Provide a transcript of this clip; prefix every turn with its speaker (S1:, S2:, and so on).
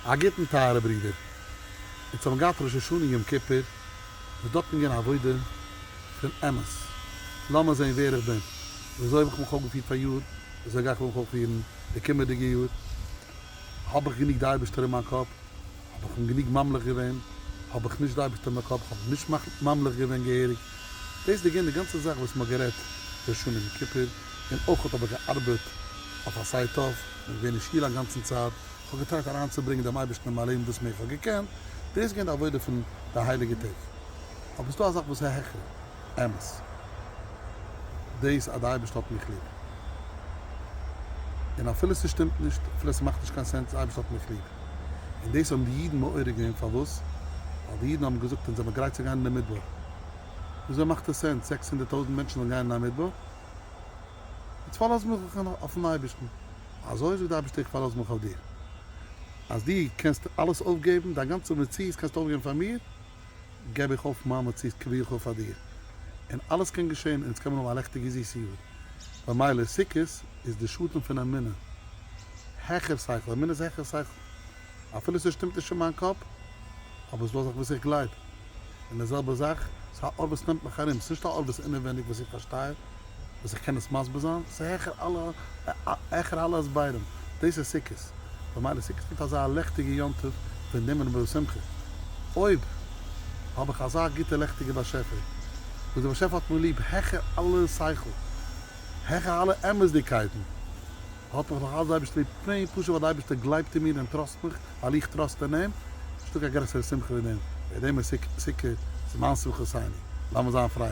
S1: א גוטן טייערע ברידער. אונז האבן געהאט ראש השנה יום כיפור, וואס דארט מ'געווען א עבודה פון אמת. לאמיר זען ווער איך בין, וויאזוי האב איך מיך אויפגעפירט פאריאר, וויאזוי גיי איך מיך אויפפירן די קומעדיגע יאר. האב איך גענוג די אייבערשטער אין מיין קאפ, האב איך אים גענוג ממליך געווען, האב איך נישט די אייבערשטער אין מיין קאפ, כ'האב אים נישט ממליך געווען געהעריג. דאס איז געווען די גאנצע זאך וואס מ'האט גערעדט ראש השנה יום כיפור. און אויך האב איך געארבעט אויף א סייט אויף, און געווען אין שול א גאנצן צייט, איך האב געטרייט אריינצוברענגען דעם אייבערשטן אין מיין לעבן וואס מער איך האב געקענט, דאס איז געווען די עבודה פון די הייליגע טעג, אבער ס'דא א זאך וואס איז העכער אמת, דאס אז די אייבערשטער האט מיך ליב, און אפילו ס'שטימט נישט, אפילו ס'מאכט נישט קיין סענס, די אייבערשטער האט מיך ליב, און דאס האבן די אידן מעורר געווען, פארוואס? ווייל די אידן האבן געזאגט אונז זעמיר גרייט צו גיין אין די מדבר, וויאזוי מאכט עס סענס זעקס הונדערט טויזנט מענטשן זאלן גיין אין א מדבר? איצט פארלאז מיך איך אויפן אייבערשטן, אזוי זאגט די אייבערשטער איך פארלאז מיך אויף דיר, אז דו קענסט אלעס אויפגעבן, דיין גאנצע מציאות קענסטו אויפגעבן פאר מיר, געב איך אויף מיין מציאות כביכול פאר דיר, און אלעס קען געשען, און אונז קען מען האבן א לעכטיגע זיסע יאר, במילא סוכות איז די שטן פון אמונה העכער שכל, אמונה איז העכער שכל. אפילו ס'שטימט נישט אין מיין קאפ, אבער ס'דא זאכן וואס איך גלייב. און די זעלבע זאך, ס'איז א אור וואס נעמט מיך ארום, ס'נישט א אור וואס אינעווייניג וואס איך פארשטיי, וואס איך קען עס מסביר זיין, ס'איז העכער אלע העכער אלע הסברים. דאס איז סוכות. במילא סוכות מיט אזא לעכטיגע יום טוב, ווען נעם און מיר שמחה. אויב האב איך אזא גוטע לעכטיגע באשעפער, וואס דער באשעפער האט מיר ליב העכער אלע שכל, העכער אלע אמת'דיגקייטן, האט מיך נאך אלץ די אייבערשטער ליב, פני פשוט ווייל די אייבערשטער גלייבט אין מיר און טראסט מיך ווייל איך טראסט אין אים, ס'נישטא קיין גרעסערע שמחה ווי דעם, ווער דעם איז סוכות איז מיין שמחותיני, לאמיר זיין פרייליך.